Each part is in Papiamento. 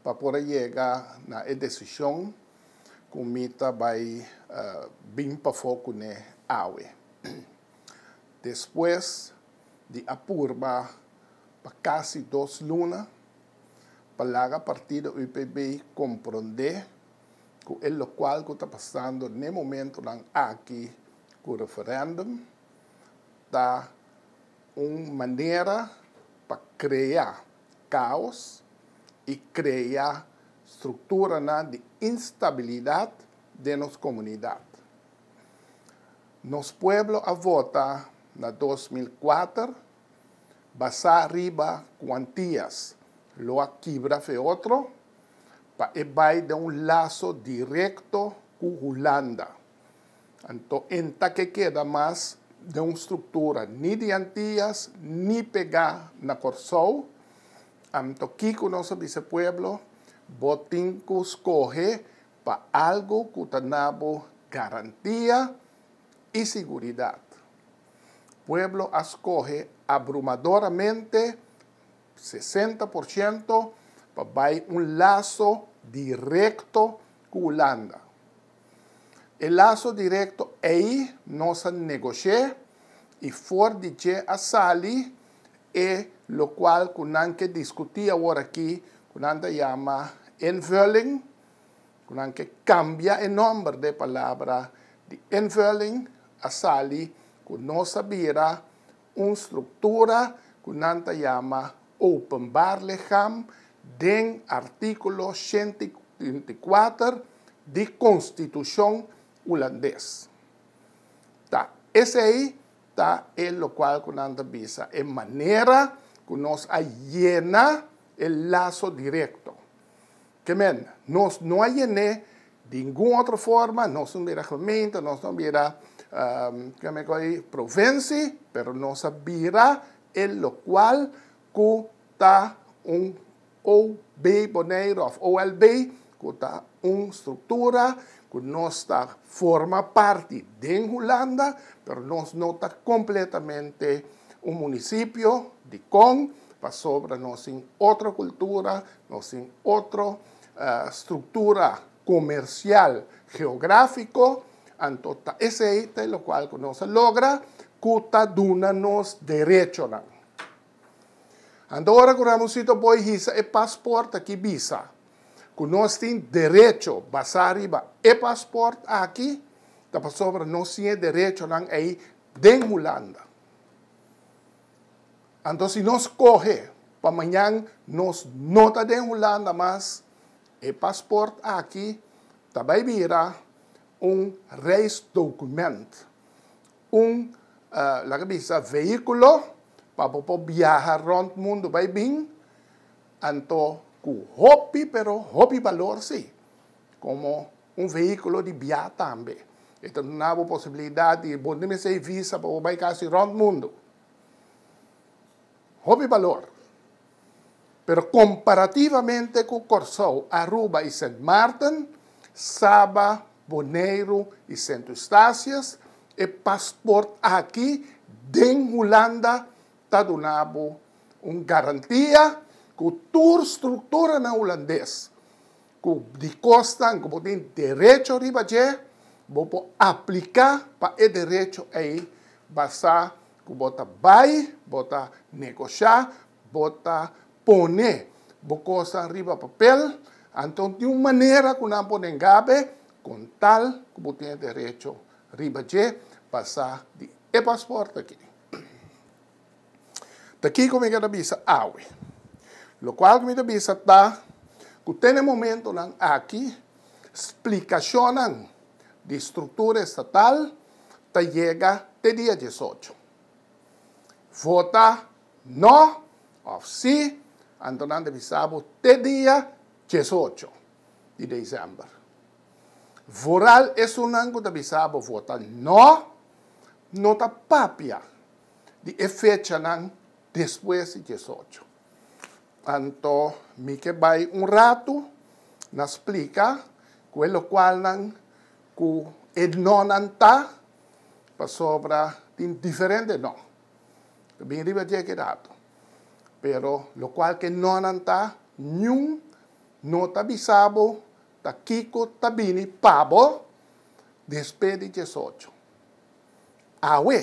pa por a yega na e desishon ku mi ta bai bin pafó kuné awe. Despues di a purba pa kasi dos luna pa laga partido UPB komprondé ku e lokual ku ta pasando n'e momentunan aki ku referèndum ta un manera pa krea. kaos i krea strukturanan di instabilidat den nos komunidat. Nos pueblo a vota na dos mil kuater basá riba kuantias, lo a kibra fe otro pa e bai den un laso direkto ku Hulanda. Anto enta ke keda mas den un struktura ni di Antias ni pegá na Kòrsou. Anto kiko nos a bisa e pueblo? Bo tin ku skohe pa algu ku ta na bo garantia i siguridat. Pueblo a skohe abrumadoramente, sesenta por shento, pa bai un laso direkto ku Hulanda. E laso directo ey nos a negocié y for di dje a sali e locual cu nan ke discutí awor aki cu nan ta yama invulling, cu nan ke cambia e nomber de palabra di invulling, a sali cu nos a bira, un struktura ku nan ta yama openbar ligham den artíkulo shenta i kuater di konstitushon Hulandes. Ta esei ta e lokual ku nan ta bisa e manera ku nos a yena e laso direkto. Ke men, nos no a yen'é di ningún otro forma, nos no bira gemeente, nos no bira, ke men kòrda ahí? Provensi, pero nos a bira e lokual ku ta un OB Boneiru òf OLB, ku ta un struktura ku nos ta forma parti den Hulanda, pero nos no ta kompletamente un munisipio. Dikon? Pasobra nos tin otro cultura, nos tin otro structura comercial geografico, anto ta esey ta e locual cu nos a logra cu ta duna nos derechonan. Anto ora cu Ramoncito Boy hisa e paspoort aki bisa cu nos tin derecho basa riba e paspoort aki, ta pasobra nos tin e derechonan ey den Hulanda. Anto si nos coge pa mañan nos no ta den Hulanda mas, e paspoort aki ta bay bira un reisdocument, un, laga bisa, vehiculo pa bo por biaha rond mundo bay bin, anto cu hopi pero hopi balor si, como. Un vehículo di biaha tambe. E ta duna bo posibilidad di bo no mester visa pa bo bay casi rond mundo. Hopi balor. Pero comparativamente cu Corsou, Aruba y Sint Maarten, Saba, Boneiru y Sint Eustatius, e paspoort aki den Hulanda ta duna bo un garantia cu tur structuranan Hulandes Cu di cosnan cu bo tin derecho riba dje, bo por aplica pa e derecho ey basa cu bo ta bay, bo ta negosha, bo ta pone bo cosnan riba papel, anto tin un manera cu nan por nenga be con tal cu bo tin e derecho riba dje basa di e pasport aki. Ta kiko mi ke ta bisa awe. Lokual ku mi ta bisa ta ku te na e momentunan aki splikashonnan di struktura estatal ta yega te dia dies ocho. Vota no òf si anto nan ta bisa bo te dia dies ocho di desèmber. Vooral esunnan ku ta bisa bo vota no, no ta papia. di e fechanan despues di diesocho. Anto mi ke bai un ratu na splika ku e lokualnan ku e nonnan ta, pasobra tin diferente non. Mi bin riba di e kidado. Pero lokual ku e nonnan ta, niun no ta bisa bo ta kiko ta bini pa bo despues di diesocho. Awe.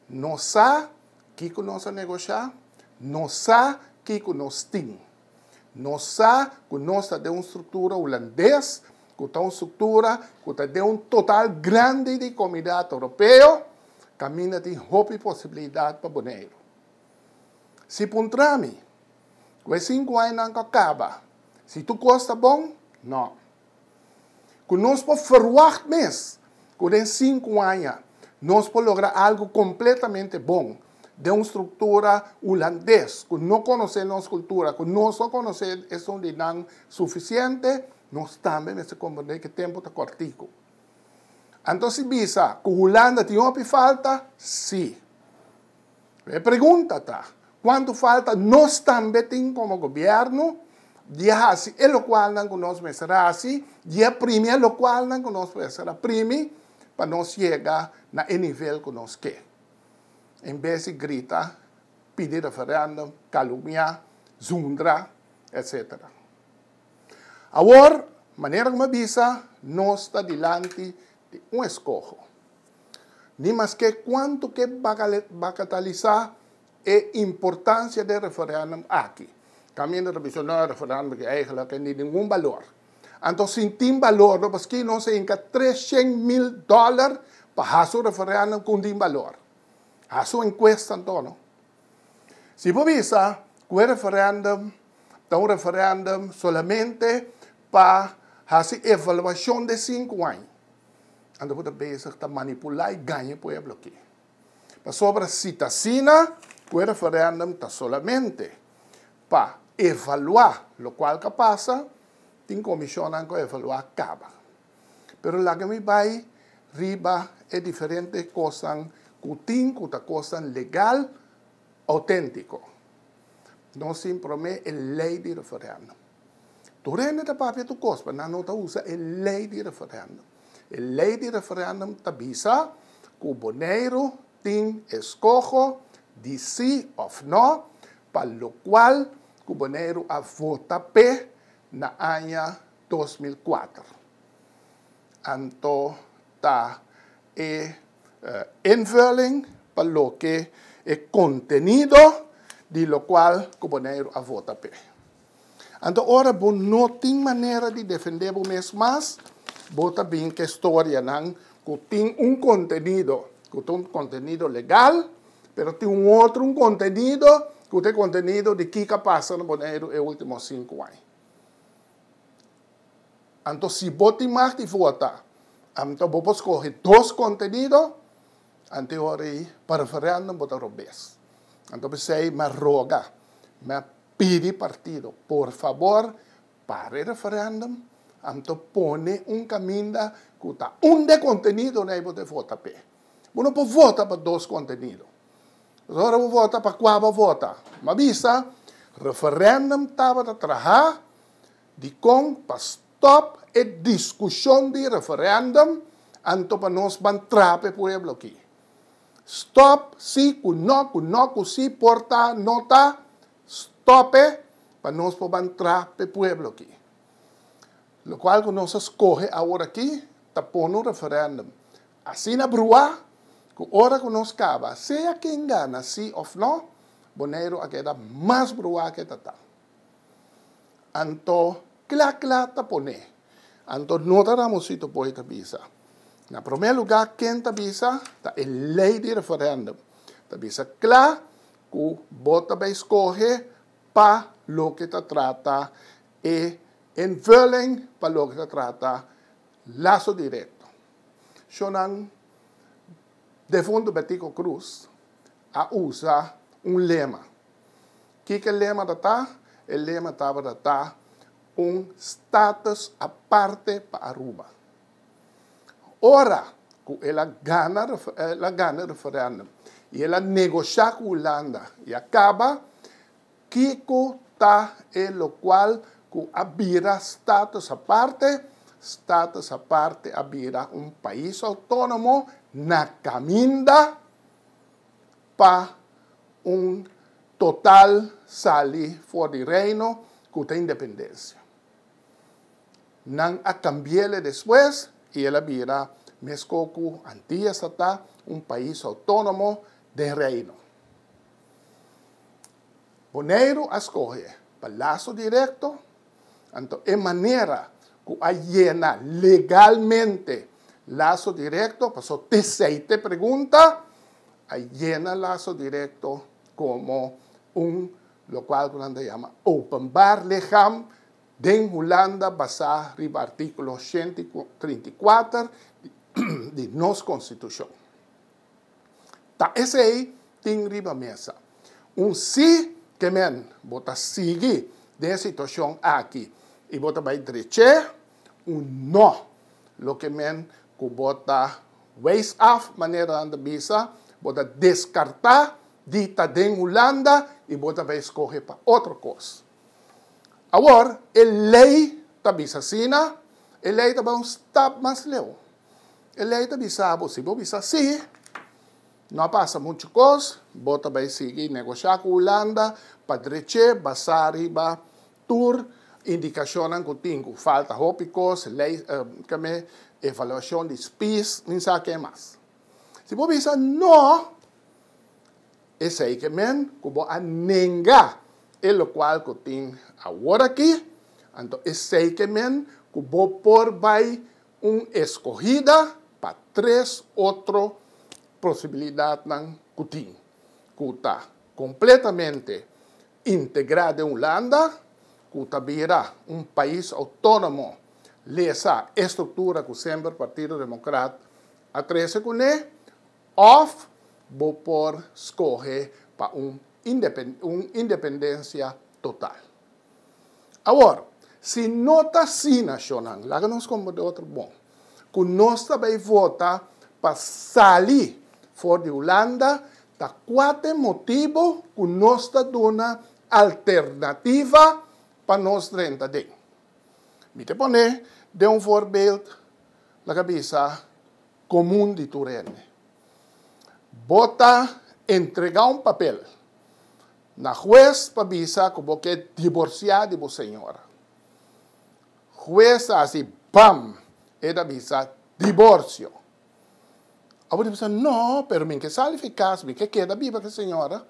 Nos sa kiko nos a negosha, nos sa kiko nos tin. Nos sa ku nos ta den un struktura hulandes, ku ta un struktura ku ta den un total grandi di komunidat Oropeo, kaminda tin hopi posibilidat pa Boneiru. Si puntra mi, ku e sinku añanan ku a kaba, si tur kos ta bon? No. ku nos por ferwagt mes ku den sinku aña nos por logra algu kompletamente bon den un struktura hulandes ku no konosé nos kultura, ku no so konosé esun di nan sufisiente, nos tambe mester komprendé ku e tempu ta kòrtiku. Anto si bisa ku Hulanda tin hopi falta? Sí. E pregunta ta, Kuantu falta nos tambe tin komo gobièrnu di a hasi e lokualnan ku nos mester a hasi, di a primi e lokualnan ku nos mester a primi pa nos yega na e nivel ku nos ke? En bes di grita, pidi referèndum, kalumniá, zundra, etcétera. Awor, manera ku mi a bisa, nos ta dilanti di un eskoho. ni maske kuantu ke bakatalisá e importansia den referèndum aki. Tambe no ta bisa, no, e referèndum aki eigelik ke ni ningun balor. Anto si tin balor no paskí nos a hinka tres shen mil dòler pa hasi un referèndum ku no tin balor? Hasi un enkuesta anto no. Si bo bisa ku e referèndum ta un referèndum solamente pa hasi evaluashon den sinku aña. Ando ku ta bezig ta manipulá i gaña e pueblo aki. Pasobra si ta asina, ku e referèndum ta solamente pa evaluá, lokual ka pasa, tin komishonnan ku a evaluá kaba. Pero laga mi bai riba e diferente kosnan ku tin ku ta kosnan legal, outéntiko. Nos tin promé e lei di referèndum. Tur hende ta papia tur kos, pero nan no ta usa e lei di referendum. E lei di referendum ta bisa ku Boneiru tin eskoho di si òf nò, pa lokual ku Boneiru a vota p'e na aña dos mil kuater. Anto ta e invulling pa loke e kontenido di lokual ku Boneiru a vota p'e. Anto ora bo no tin manera di defendé bo mes mas, bo ta bin k'e storianan ku tin un kontenido ku ta un kontenido legal, pero tin un otro un kontenido ku ta e kontenido di kiko a pasa na Boneiru e último sinku aña. Anto si bo tin mag di vota, anto bo por skohe dos kontenido, anto ora ei pa referendum bo ta robes. Anto bisei mi a roga, mi a. Pidi partido, por fabor, para e referendum, anto pone un caminda cu ta un de contenido na e bo ta vota p'e. Bo no por vota pa dos contenido. Pasobra ora bo vota pa cua bo a vota. Bo a bisa, referendum tabata traha dicon pa stop e discusion di referendum, anto pa nos ban traha p'e pueblo aki. Stop, si ku no, ku no ku si, por ta, no ta, stope, pa nos por ban tra p'e pueblo aki. Lokual ku nos a skohe awor aki ta pone un referèndum. Asina bruha ku ora ku nos kaba, sea ken gana si òf no, Boneiru a keda mas bruha ke ta ta. Anto kla kla ta pone. Anto no ta Ramosito Poe ta bisa. Na prome luga ken ta bisa ta e ley di referendum. Ta bisa kla ku bo ta bay skohe pa loke ta trata e invulling pa loke ta trata laso directo. Shonan defunto Betico Cruz a usa un lema. Kiko e lema tata? E lema tabata ta un status aparte pa Aruba. Ora cu el a gana, el a gana e referendum y el a negocia cu Hulanda y a caba, kico ta e locual cu a bira status aparte? Status aparte a bira un pais autonomo na caminda. pa un total sali for di Reino ku ta independensia. Nan a kambiele despues i el a bira mesko ku antias a ta, un pais outónomo den Reino. Boneiru a skohe pa laso direkto, anto e manera ku a yena legalmente laso direkto, paso te seite pregunta a yena laso direkto komo un lokual ku nan ta yama openbar ligham den Hulanda basá riba artíkulo shent i trinta i kuater di nos konstitushon. Ta esei tin riba mesa. Un sí ke men bo ta sigui den e situashon aki i bo ta bai drech'é. un no. Loke men ku bo ta wijs af, manera nan ta bisa, bo ta deskartá di ta den Hulanda i bo ta bai skohe pa otro kos. Awor, e lei ta bisa asina, e lei ta bai un stap mas leu. E lei ta bisa bo, si bo bisa sí, no a pasa muchu kos, bo ta bai sigui negosha ku Hulanda pa drech'é basá riba Tur indikashonnan ku tin ku falta hopi kos, lei, keme evaluashon di spis, min sa ke mas. Si bo bisa no, esei ke men ku bo a nenga e lokual ku tin aworakí, anto esei ke men ku bo por bai un eskohida pa tres otro posibilidatnan ku tin, ku ta kompletamente Integrá den Hulanda, ku ta bira un pais outónomo, lesa e struktura ku semper Partido Democrat a trese kuné, òf bo por skohe pa un un independensia total. Awor, si no ta asina, shonnan, laga nos komba otro bon. cu nos ta bay vota pa sali for di Hulanda ta cuate motibo cu nos ta duna alternativa pa nos drenta den. Mi te pone den un voorbeeld, laga bisa, comun di tur hende. Bo ta entrega un papel na huez pa bisa cu bo ke diborcia di bo señora. Hues a hasi bam! E ta bisa, Diborsio! Awo di bisa, No, pero mi ke sali fi kas, mi ke keda biba ku e señora.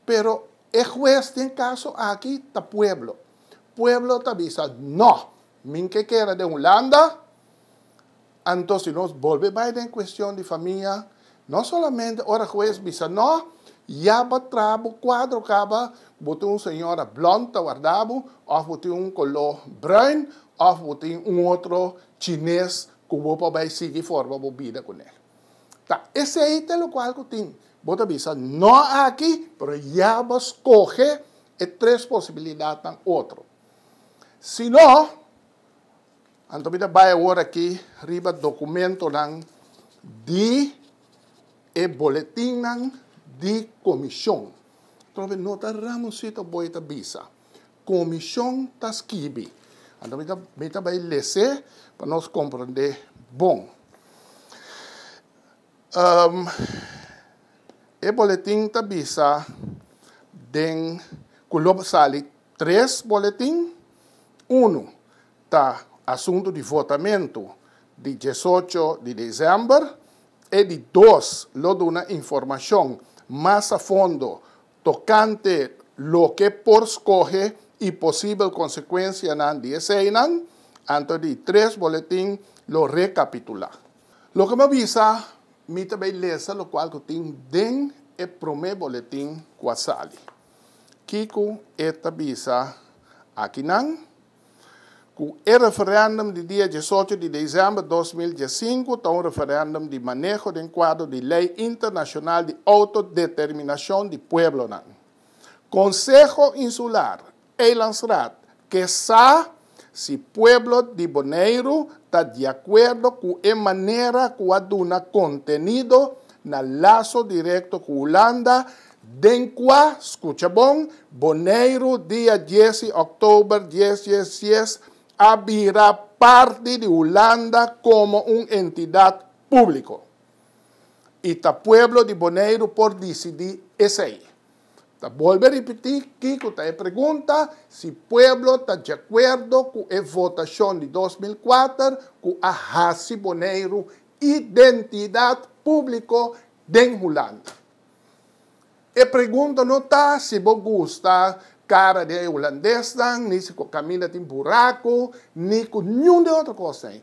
Pero e hues den kaso aki ta pueblo. Pueblo ta bisa, No, mi ke keda den Hulanda. Anto si nos bolbe bai den cuestion di famia, no solamente ora hues bisa no, ya bo tra bo cuadro caba, bo tin un señora blond ta warda bo, of bo tin un colo bruin, of bo tin un otro chines cu bo por bai sigui forma bo bida cu nel. Ta esey ta locual cu tin. Bo ta bisa no aki, pero ya bo scoge e tres posibilidadnan otro. Si no. Anto mi ta bai awor aki riba dokumentonan di e boletinnan di komishon. Trove no ta Ramoncito Boy ta bisa. Komishon ta skibi. Anto mi ta mi ta bai les'é pa nos komprondé bon. E boletin ta bisa den ku lo sali tres boletin. Unu ta asuntu di votamentu di diesocho di desèmber e di dos lo duna informashon mas a fondo tokante loke por skohe i posibel konsekuensianan di eseinan, anto di tres boletin lo rekapitulá. Loke bo bisa mi ta bay lesa lokual ku tin den e promé boletin ku a sali. Kico e ta bisa akinan? Cu e referendum di dia diesocho di december dos mil diesinco ta un referendum di maneho den cuadro di ley internacional di autodeterminacion di pueblonan. Conseho Insular, Eilandsraad, Kesa si pueblo di Boneiru ta di akuerdo ku e manera ku a duna kontenido na Laso Direkto ku Hulanda den kua, skucha bon, Boneiru dia dies i òktober dies dies dies a bira parti di Hulanda komo un entidat públiko. I ta pueblo di Boneiru por disidí esei. Ta bolbe ripití kiko ta e pregunta, si pueblo ta diakuerdo ku e votashon di dos mil kuater ku a hasi Boneiru identidat públiko den Hulanda. E pregunta no ta si bo gusta kara di e hulandesnan, ni si ku Camilla tin buraku, ni ku niun di otro kosnan ei.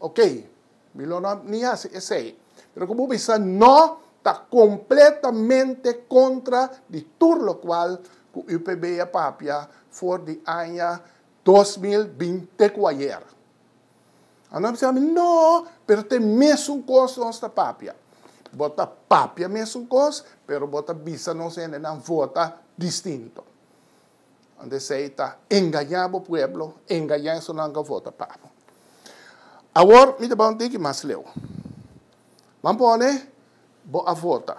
Ok, mi lo no ni hasi esei. Pero ku bo bisa no ta kompletamente kontra di tur lokual ku UPB a papia for di aña dos mil binte ku ayer. A no a bisa mi no, pero ta e mesun kos nos ta papia. Bo ta papia mesun kos, pero bo ta bisa nos hendenan vota distinto. Ant esei ta engañá bo pueblo, engañá esonanku a vota pa bo. Awor mi ta bai un tiki mas leu. Ban pone bo a vota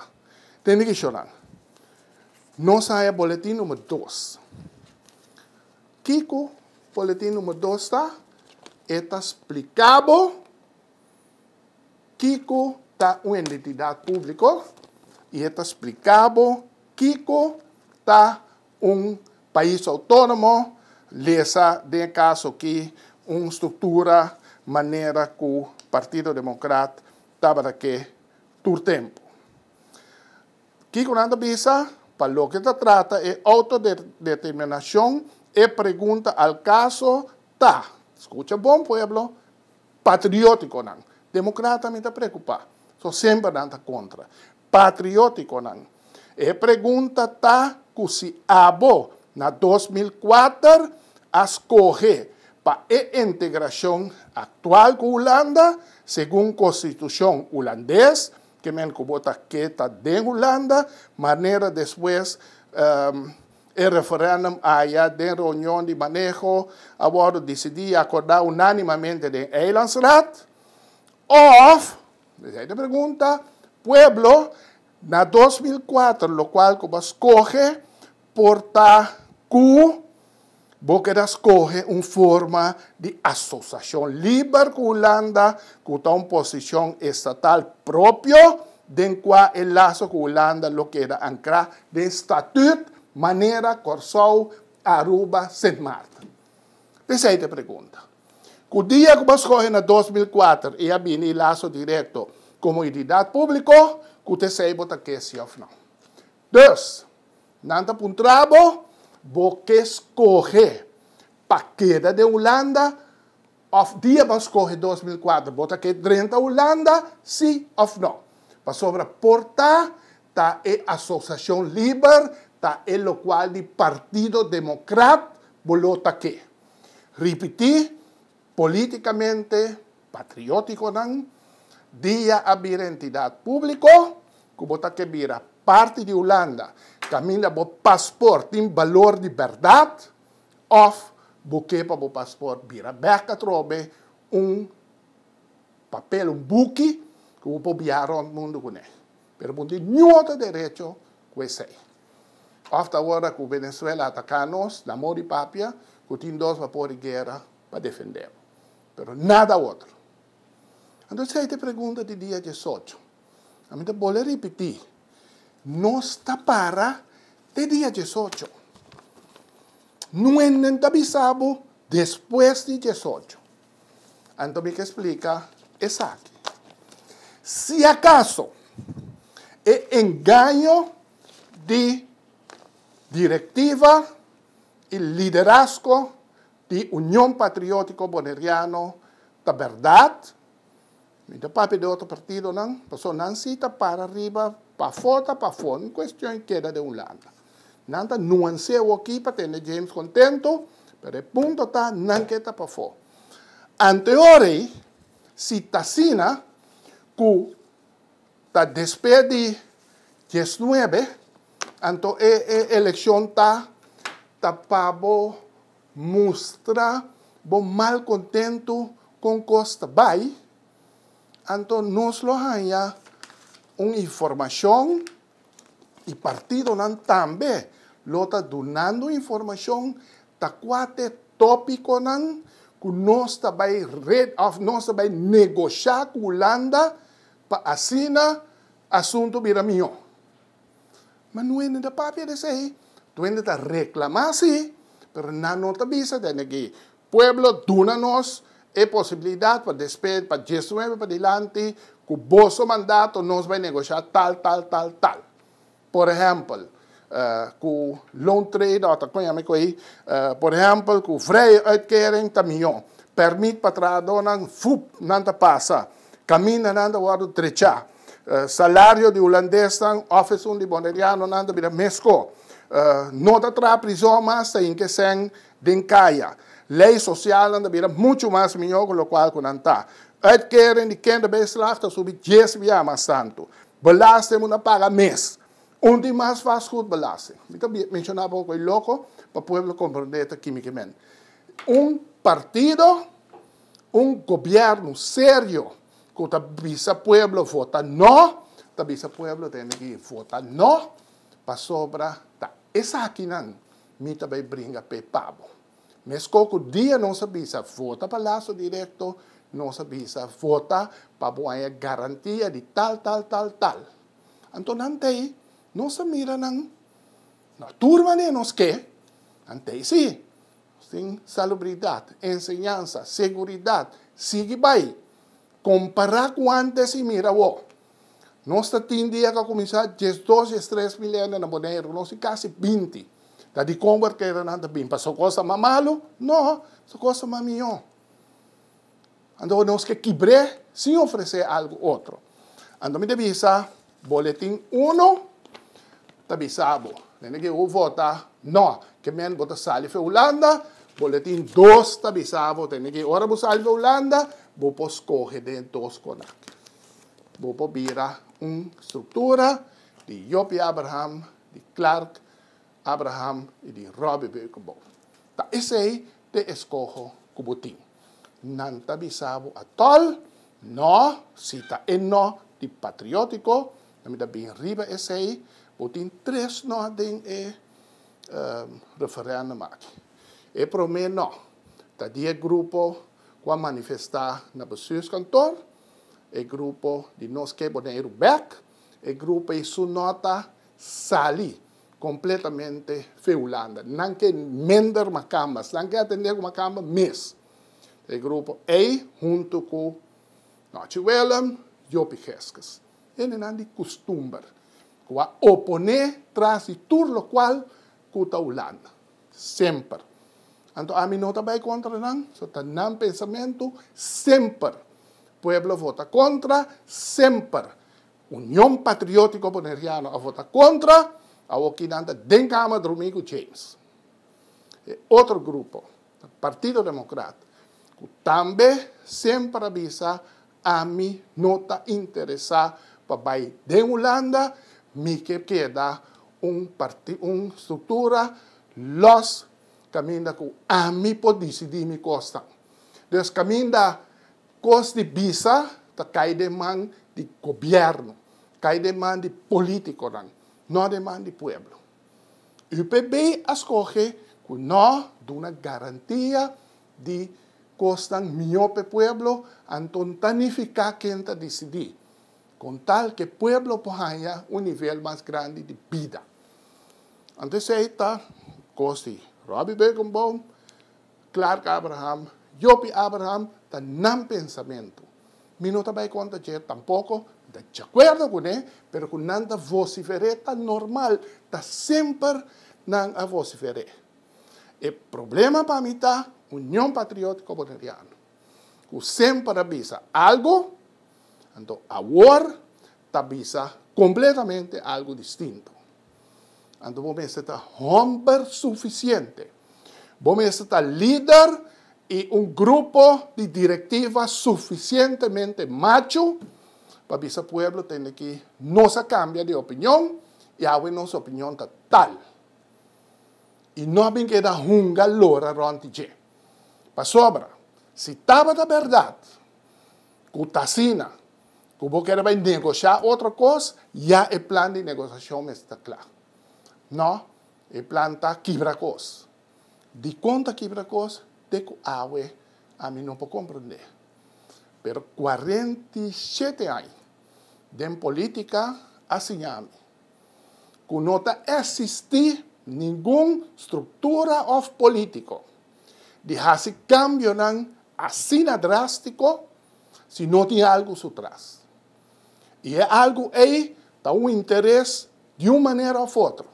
den di kishonnan. Nos a haya boletin numer dos. Kiko boletin numer dos ta? E ta spliká bo kiko ta un identidat públiko i e ta spliká bo kiko ta Un pais autónomo lesa den e kaso aki un struktura manera ku Partido Demokrat tabata ke tur tempu. Kiko nan ta bisa? Pa loke ta trata e outodeterminashon e pregunta al kaso ta, skucha bon pueblo, patriótikonan. Demokrata mi ta preokupá. So semper nan ta kontra. patriótikonan. E pregunta ta ku si abo na dos mil kuater a skohe pa e integrashon aktual ku Hulanda segun konstitushon hulandes, ke men ku bo ta keda den Hulanda, manera despues e referèndum aya den reunion di maneho a wòrdu disidí i akordá unánimamente den Eilandsraad, òf. Esei ta pregunta pueblo na dos mil kuater lokual ku bo a skohe por ta ku bo keda skohe un forma di asosashon liber ku Hulanda ku ta un posishon estatal propio den kua e laso ku Hulanda lo keda ankrá den statüt manera Kòrsou, Aruba, Sint Maarten. Esei ta pregunta. Ku dia ku bo a skohe na dos mil kuater i a bini laso direkto komo ididat públiko ku ta esei bo ta ke si òf nau. Dus, nan ta puntra bo, Bo ke skohe pa keda den Hulanda òf dia bo a skohe dos mil kuater bo ta ke drenta Hulanda si òf nau? Pasobra por ta ta e Asosiashon Liber, ta e lokual di Partido Demokrat bo lo ta ke. Ripití, polítikamente patriótikonan, dia a bira entidat públiko ku bo ta ke bira parti di Hulanda kaminda bo pasport tin balor di bèrdat òf bo ke pa bo pasport bira bèk atrobe un papel, un buki ku bo por biaha rònt mundu kuné. Pero bo tin niun otro derecho ku esei. Òf ta ora ku Venezuela ataká nos, nan mor di papia ku tin dos bapor di guera pa defendé bo. Pero nada otro. Anto esei ta e pregunta di dia diesocho. Ami ta bole ripití, nos ta para te dia diesocho. Nuenden ta bisa bo despues di diesocho. Anto mi ke splika esaki. Si akaso e engaño di direktiva i liderasko di Union Patriotiko Boneriano ta bèrdat, Mi ta papia di otro partidonan, pasobra nan si ta para riba pafó ta pafó, un cuestion keda den un lado. Nan ta nuans'é awokí pa tende James contento, pero e punto ta nan ke ta pafó. Ante ora ei, si t'asina ku ta despe di dies nuebe, anto e e eleccion ta ta pa bo. Mustra bo malkontentu kon kos ta bai, anto nos lo haña un informashon i partidonan tambe lo ta dunando informashon ta kuate tópikonan ku nos ta bai reda òf nos ta bai negoshá ku Hulanda pa asina asuntu bira mihó. Ma nuende ta papia di esei. Nuende ta reklamá si, pero nan no ta bisa tende ki pueblo duna nos e posibilidat pa despues, pa dies nuebe padilanti, ku boso mandato nos bai negosha tal, tal, tal, tal. Por ehèmpel, ku loan trade off, kon yama e ku ei? Por ehèmpel ku vrije uitkering ta mihó. Pèrmit pa trahadónan, vup, nan ta pasa. Kamindanan ta wòrdu trechá. Salario di hulandesnan òf esun di bonerianonan ta bira meskó. No ta traha prizòn mas, ta hinka e sèn den kaya. Lei sosialnan ta bira muchu mas mihó ku lokual ku nan ta. Uitkering di kinderbijslag ta subi dies bia mas tantu. Belasting bo na paga mes. Un tin mas, vastgoedbelasting. Mi ta menshoná pa bo ku ei loko, pa pueblo komprondé ta kimikimente. Un partido. Un gobierno serio cu ta bisa pueblo vota no, ta bisa pueblo tene ki vota no, pasobra ta esakinan mi ta bay bringa p'e pabo. Mesco cu dia nos a bisa vota pa Lazo Directo, nos a bisa vota pa bo haya garantia di tal, tal, tal, tal. Anto nan ta ey, nos a mira nan, no tur mane nos ke, nan ta ey si. Nos tin salubridat, enseñansa, seguridat, sigui bai. Kompará ku ántes i mira awor. Nos ta tin dia ku a kuminsá diesdos i es tres mil hende na Boneiru. Nos tin kasi binti. Ta dikon workeranan ta bin? Pa sokos ta mas malu? No, sokos ta mas mihó. Anto nos ke kibr'é sin ofresé algu otro. Anto mi ta bisa Boletin uno ta bisa bo, Nene ke bo vota no, ke men bo ta sali for Hulanda, Boletin dos ta bisa bo, Nene ke ora bo sali for Hulanda, bo por skohe den e dos konak. Bo por bira un struktura di Joppie Abraham, di Clark, Abraham i di Robbie bebe ku bo. Ta esei te eskoho ku bo tin. Nan ta bisa bo atol, No, si ta e no di patriótiko, nan mi ta bin riba esei. Bo tin tres no den e referèndum aki. E promé no ta di e grupo ku a manifestá na bestuurskantoor, e grupo di Nos Keboneiru Bèk, e grupo ei su no ta sali Completamente fe Hulanda. Nan ke mender Makambas. Nan ke atende ku Makamba mes. E grupo ei huntu ku Nochi Willem, Jopi Gesges. Hende nan di kustumber. Ku a oponé tras di tur lokual ku ta Hulanda. Semper. Anto ami no ta bai kontra nan. So ta nan pensamentu. Semper. Pueblo vota kontra. Semper. Union Patriótico Boneriano a vota contra, awor ki nan ta den Kamer drumí ku James. E otro grupo ta Partido Democrat ku tambe semper a bisa ami no ta interesá pa bai den Hulanda, mi ke keda un un struktura lòs kaminda ku ami por disidí mi kosnan. Dus kaminda Kos di bisa ta kai den man di gobièrnu, kai den man di polítikonan, no den man di pueblo. UPB a skohe ku no duna garantia di kosnan mihó p'e pueblo, anton ta nifiká ken ta disidí, kon tal ku e pueblo por haña un nivel mas grandi di bida. Anto esei ta kos di Robbie Bergenboom. Clark Abraham, Yopi Abraham ta nan pensamentu. Mi no ta bai contra dje tampoco, mi ta djacuerdo cu ne, pero cu nan ta vocifer'é ta normal, ta semper nan a vocifer'é. E problema pa mi ta Union Patriotico Boneriano, cu semper a bisa algo, anto awor ta bisa completamente algo distinto. Anto bo mester ta homber sufisiente. Bo mester ta lider i un grupo di direktiva sufisientemente machu pa bisa pueblo tende ki nos a kambia di opinion i awe nos opinion ta tal. I no a bin keda hunga lora rònt di dje. Pasobra si tabata bèrdat ku ta asina, ku bo keda bai negosha otro kos, ya e plan di negosashon mester ta kla. No, e plan ta kibra kos. Dikon ta kibra kos? Te ku awe ami no por komprendé. Pero kuarenta i shete aña den polítika a siña mi. ku no ta esistí ningun struktura òf polítiko di hasi kambionan asina drástiko si no tin algu su tras. I e algu ei ta un interes di un manera òf otro.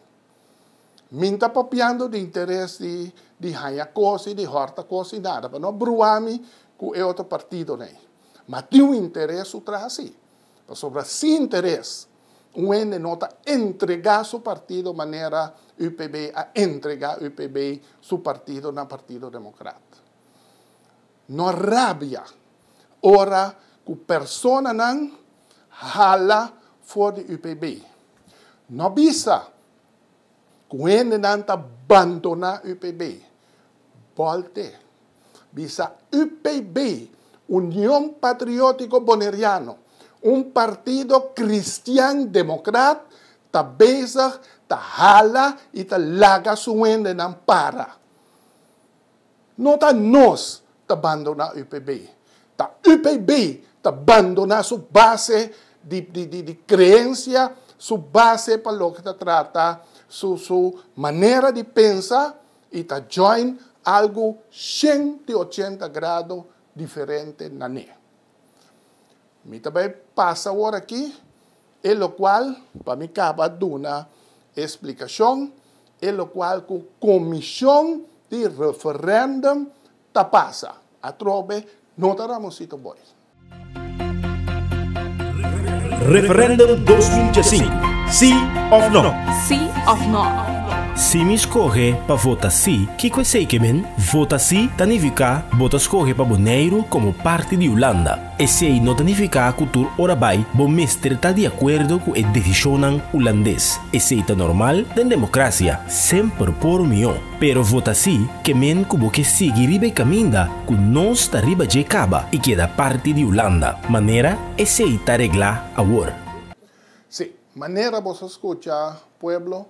Min ta papiando di interes di di haña kos i di hòrta kos i nada pa no brua mi ku e otro partidonan ei. Ma tin un interes su tras sí. pasobra sin interes un hende no ta entrega su partido manera UPB a entrega UPB su partido na Partido Democrat. No rabia ora cu personanan hala for di UPB. No bisa cu hendenan ta bandona UPB. Bolte. bisa UPB, Union Patriotico Boneriano, un partido cristian democrat, ta bezig ta hala y ta laga su wendenan para. No ta nos ta bandona UPB, ta UPB ta bandona su base di creencia, su base pa loke ta trata su manera di pensa, y ta join algo ciento ochenta grado diferente na ne. Mi ta bay pasa awor aki e locual pa mi caba duna e explicacion, e locual cu comision di referendum ta pasa, atrobe no ta Ramoncito Boy. Referendum dos mil djasinku, Sí òf Nò? Sí òf Nò? Si mi skohe pa vota sí, kiko esei ke men? Vota sí ta nifiká bo ta skohe pa Boneiru komo parti di Ulanda. Esei no ta nifiká ku tur ora bai bo mester ta di akuerdo ku e desishonnan ulandes. Esei ta normal den demokrasia, semper por mihó. Pero vota sí ke men ku bo ke sigui riba e kaminda ku nos ta riba dje kaba i keda parti di Hulanda, manera esei ta reglá awor. Sí, manera boso skucha, pueblo,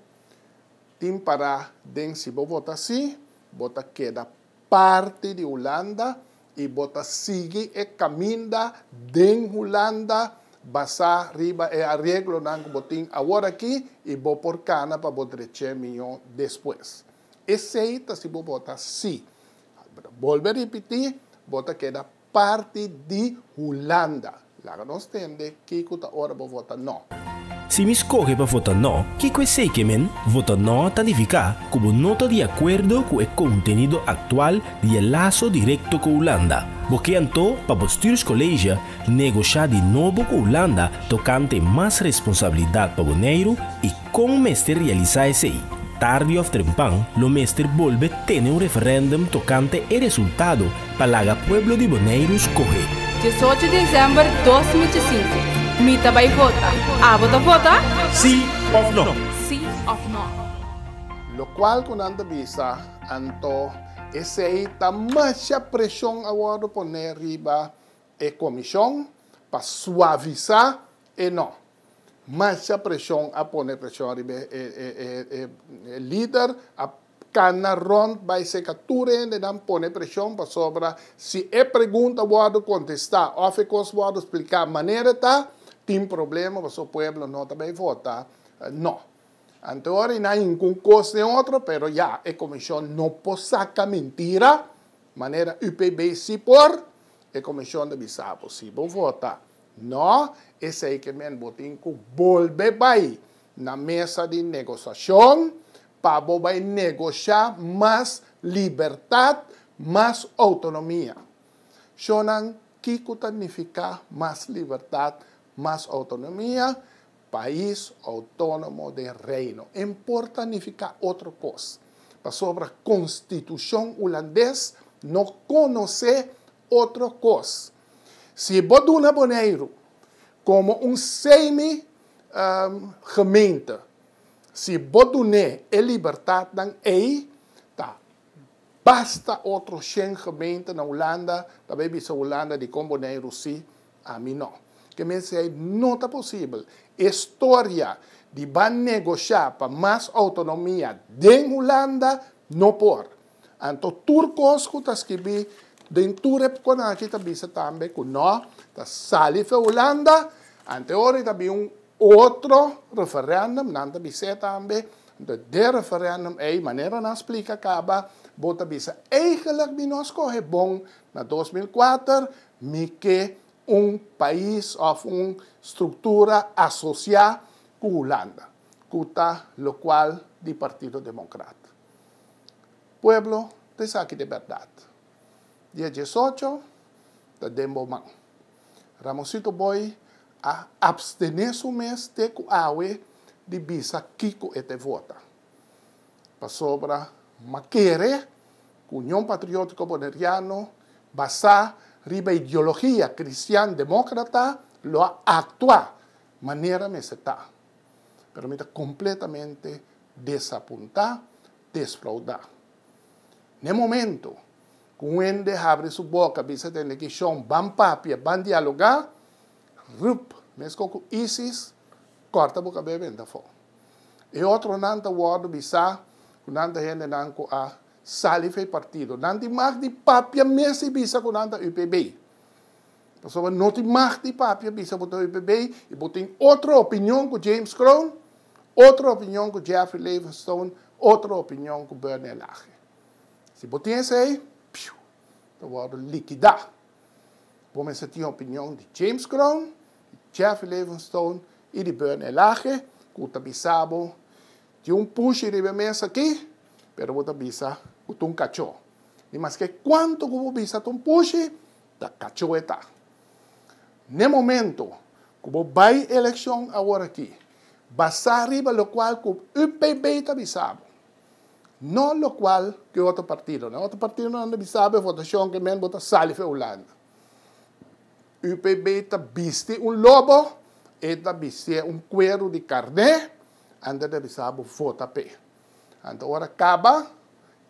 tin pará den si bo vota sí, bo ta keda parti di Hulanda, I bo ta sigui e kaminda den Hulanda basá riba e areglonan ku bo tin awor aki i bo por kana pa bo drech'é mió despues. Esei ta si bo bota sí. Bolbe ripití, bo ta keda parti di Hulanda. Laga nos tende kiko ta ora bo vota no. Si mi skohe pa vota no, kiko esei ke men? Vota no ta nifiká ku bo no ta di akuerdo ku e kontenido aktual di e laso direkto ku Hulanda. Bo ke anto pa bo stürskolege negoshá di nobo ku Hulanda tokante mas responsabilidat pa Boneiru i. Kon mester realisá esei? Tardi òf trempan lo mester bolbe tene un referèndum tokante e resultado pa laga pueblo di Boneiru skohe. Diesocho Desèmber dos mil diesinte, Mi ta bai vota, abo ta vota? Sí òf nò? Sí òf nò? Lokual ku nan ta bisa, Anto esei ta masha preshon a wòrdu poné riba e komishon pa suavisá e nò? Masha preshon a pone preshon riba e lider a cana rond bay seca tur hendenan pone preshon pasobra si e pregunta wordo contesta of e cos wordo splica manera ta tin problema pasobra pueblo no ta bay vota no ante ora y na hinca un cos ni otro pero ya e comision no por saca mintira manera UPB si por e comision ta bisa bo si bo vota No, esei ke men bo tin ku bolbe bai na mesa di negosashon pa bo bai negoshá mas libertat, mas outonomia. Shonnan, kiko ta nifiká mas libertat, mas outonomia? Pais outónomo den Reino. E no por ta nifiká otro kos, pasobra Konstitushon Hulandes no konosé otro kos. Si bo duna Boneiru como un semi gemeente, si bo dun'é e libertadnan ei, ta basta otro shen gemeente na Hulanda ta bay bisa Hulanda dikon Boneiru sí, ami no. Ke mester ei no ta posibel. E storia di ban negosha pa mas autonomia den Hulanda no por. Anto tur kos ku ta skibí den tur e bukonan akí ta bisa tambe ku no ta sali fia Hulanda. Anteori ta bin un otro referèndum, nan ta bis'é tambe. Anto den referèndum ei, manera nan splika kaba, bo ta bisa eigenlik mi no skohe bon na dos mil kuater, mi ke un pais òf un struktura asosiá ku Hulanda, ku ta lokual di Partido Demokrat. Pueblo ta esaki di berdad. Dia diesocho ta den bo man. Ramoncito Boy a abstene su mes te cu awe di bisa kico e ta e vota. Pasobra m'a kere cu Union Patriotico Boneriano basá riba ideologia cristian democrata lo a actua manera mester ta. pero mi ta completamente desapuntá, desfraudá. Na e momento cu un hende habri su boca bisa tende ki shon ban papia, ban dialogá, rup, mesco cu ISIS, corta bo cabé benta afó. E otronan ta wordo bisá cu nan ta hendenan cu a sali f'e partido. Nan tin mag di papia mes y bisa cu nan ta UPB. Pasobra no tin mag di papi a bisa bo ta oye bebé i bo tin otro opinion ku James Crown, otro opinion ku Jeffrey Levenstone, otro opinion ku Berney Lache. Si bo tin esei, piu, ta wòrdu likidá. Bo mester tin opinion di James Crown, di Jeffrey Levenstone i di Berney Lache ku ta bisa bo, tin un pushi riba e mes aki, pero bo ta bisa ku ta un kachó. I maske kuantu ku bo bisa ta un pushi, Ta cacho e ta. N'e momento cu bo bay eleccion aworaki, basá riba locual cu UPB ta bisa bo, no locual cu e otro partidonan. E otro partidonan ta bisa bo e votacion cu e men bo ta sali fu e Hulanda. UPB ta bisti un lobo, e ta bistié un cuero di carné, anto e ta bisa bo vota p'e. Anto ora caba,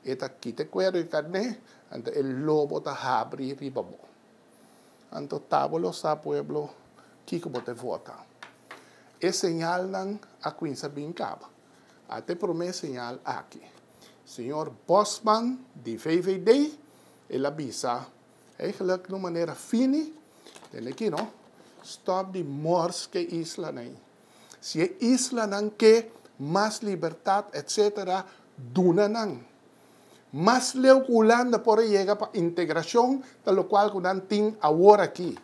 E ta kita e kuero di karné, anto e lobo ta habri riba bo. Anto ta bo lo sa, pueblo, kiko bo ta e vota. E señalnan a kuinsa bin kaba. Ata e promé señal aki. Señor Bosman di VVD, el a bisa, Eigenlijk di un manera fini, den e kino, stop di mors ke islanan ei. Si e islanan ke mas libertat etc. Duna nan. Mas leu ku Hulanda por a yega pa integrashon ta lokual ku nan tin awor aki.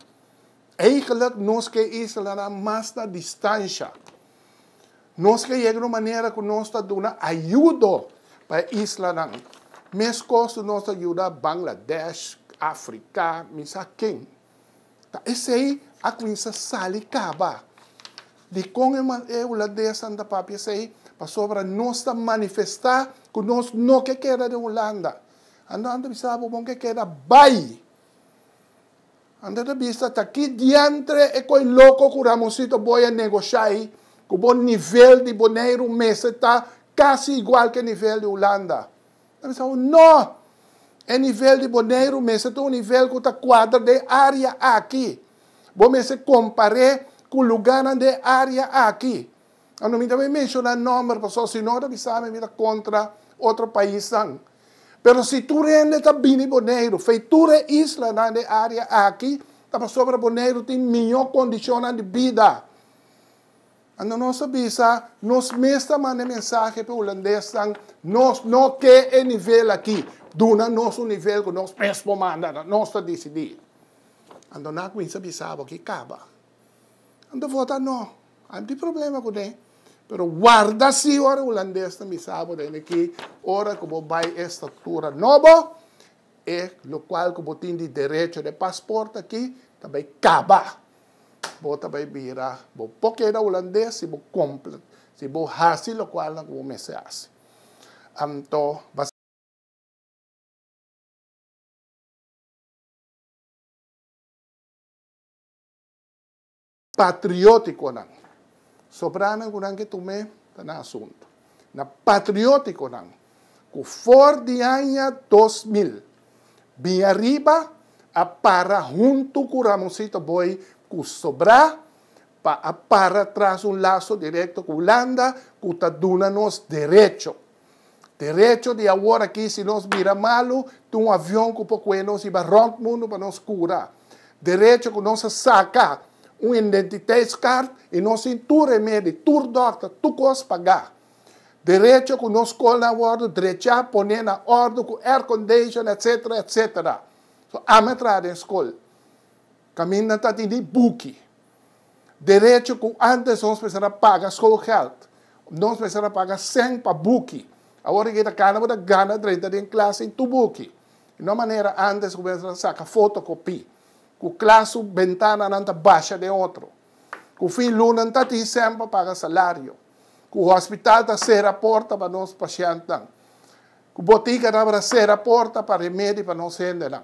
Eigelik nos ke islanan mas na distansha. Nos ke yega na un manera ku nos ta duna ayudo pa e islanan. Meskos nos ta yuda Bangladesh, Afrika, mi sa ken. Ta esei a cuminsa sali caba. Dicon e man e un lado dea Santa Papi esei? Pasobra nos ta manifesta cu nos no ke keda den Hulanda. Anto nan ta bisa bo, Bon ke keda bay. Anto ta bisa ta ki diantre e koe loco cu Ramonsito Booi a negocia ey, cu bo nivel di Boneiru mester ta casi igual ke nivel di Hulanda. Nan a sabi, No! E nivel di Boneiru mester ta un nivel ku ta kuadra den e área aki. Bo mester kompar'é ku lugánan den e área aki. Anto mi no ta bin menshoná nòmber pasobra si no ta bisa mi mi ta kontra otro paisnan. Pero si tur hende ta bini Boneiru, fei tur e islanan den e área aki, ta pasobra Boneiru tin mihó kondishonnan di bida. Ando nos ta bisa nos mes ta manda e mensahe p'e hulandesnan, nos no ke e nivel aki. Duna nos un nivel ku nos mes por manda, ta nos ta disidí. Ando nan a kuminsá bisa abo aki kaba. Ando vota no. A miti problema kuné. Pero warda si ora e hulandesnan bisa bo den aki, ora ku bo bai e estatura nobo, e lokual ku bo tin di derecho di e pasport aki ta bai kaba. bo ta bai bira, bo por keda hulandes si bo cumpli, si bo haci locualnan cu bo mester haci. Anto. Patrioticonan. Sobranan cu nan ke tum'é ta nan asunto. na patriótikonan ku for di aña dos mil bin ariba a para huntu ku Ramoncito Boy ku sobrá pa a para tras un laso direkto ku Hulanda ku ta duna nos derecho, derecho di aworakí si nos bira malu, tin un avion ku por kue nos riba rònt mundu pa nos kura. Derecho ku nos a saka un identiteitskaart i nos tin tur remedi, tur dòkter, tur kos pagá. Derecho ku nos skolnan a wòrdu drechá, pon'é na òrdu ku aircondition etc. Etc. So ami a traha den skol kaminda ta di ni buki. Derecho ku antes nos mester a paga schoolgeld. Nos mester a paga sèn pa buki. Awor di ke ta kana bo ta gana drenta den klas sin tu buki. I no manera antes ku mester a saka fotokopi, ku klas su bentananan ta basha den otro, ku fin luna no ta tin sèn pa paga salario, ku hospital ta sera porta pa nos pashèntnan, ku botiga tabata sera porta pa remedi pa nos hendenan.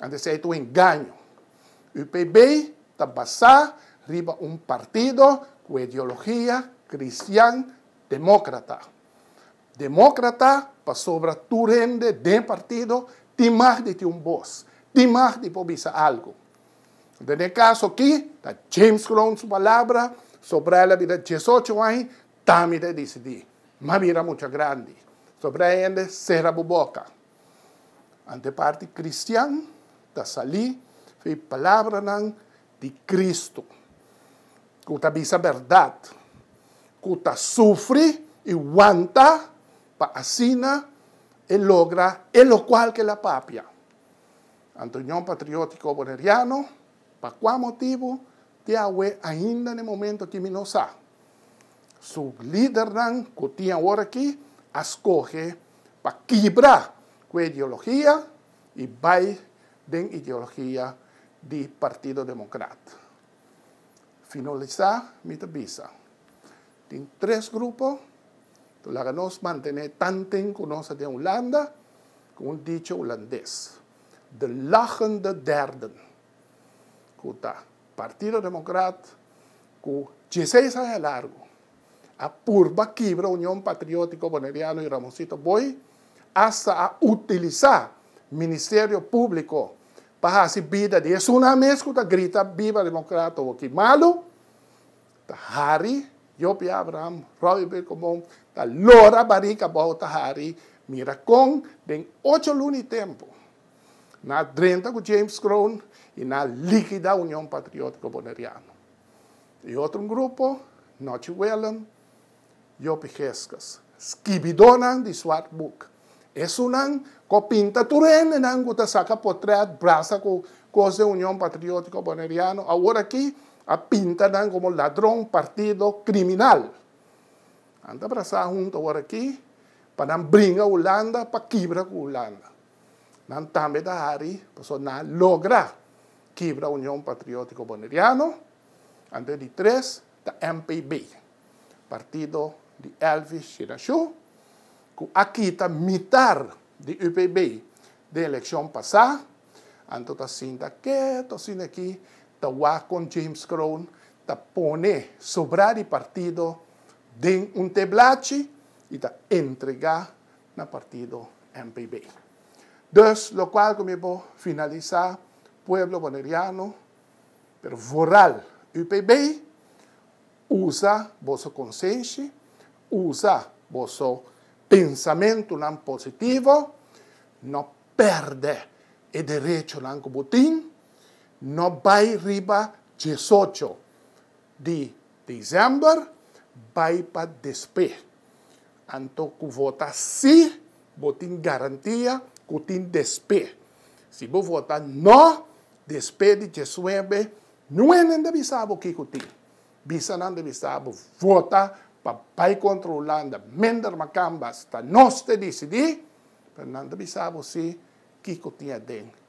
Anto esei ta un engaño. UPB ta basá riba un partido ku ideologia kristian demókrata. Demókrata pasobra tur hende den partido tin mag di tin un bos, tin mag di por bisa algu. Den e kaso akí ta James Kroon su palabra, sobrá el a bira diesocho aña, ta mi ta e disidí. M'a bira mucha grandi. Sobr'e hende sera bo boka. Ante parti kristian ta salí f'e palabranan di Kristu, ku ta bisa bèrdat, ku ta sufri i wanta pa asina e logra e lokual k'el a papia. Ante Union Patriótiko Boneriano, pa kua motibu? Te awe ainda n'e momento aki mi no sa. Su lidernan ku tin awor aki a skohe pa kibra ku e ideologia i bai den ideologia di Partido Demokrat. Finalisá mi ta bisa, tin tres grupo, to laga nos mantené tanten ku nos ta den Hulanda, ku un dicho hulandes, de lachende derden. ku ta Partido Demokrat ku dieseis aña largu a purba kibra Union Patriotiko Boneriano i Ramonsito Booi asta a utilisá Ministerio Públiko pa hasi bida di esunnan mes ku ta grita Biba Demokrat Tobo ki malu ta Harry Jopie Abraham Robbie Birkomon ta lora barik abou ta Harry mira kon den ocho luna i tempu Nan a drenta ku James Kroon i nan a likida Union Patriótiko Boneriano. E otro grupo, Nochi Wellem, Yopi Gescas, skibidónan di Swart Boek. Esunnan ku a pinta tur hendenan ku ta saka potrèt brasa ku kos den Union Patriótiko Boneriano, aworakí a pinta nan komo ladron, partido, kriminal. Nan ta brasá huntu aworakí pa nan bringa Hulanda pa kibra ku Hulanda. Nan tambe ta hari pasobra nan a logra kibra Union Patriótico Boneriano, antes di tres ta MPB, partido di Elvis Chinashu, cu a kita mitar di UPB den eleccion pasá, anto ta sinta keto asina aki ta wak con James Kroon ta pone sobrá di partido den un teblachi y ta entrega na partido MPB. Dus lokual ku mi por finalisá pueblo boneriano pero vooral UPB usa boso konsenshi, usa boso pensamentunan positivo, no pèrdè e derechonan ku bo tin, no bai riba diesocho. di December bai pa despe. Anto cu vota si, bo tin garantia cu tin despe. Si bo vota no, despe di djesnuebe, nuenen ta bisa bo kico tin. Bisanan ta bisa bo vota pa bai contra Hulanda, minder macamba, hasta nos ta dicidi, pero nan ta bisa bo si kico tin aden.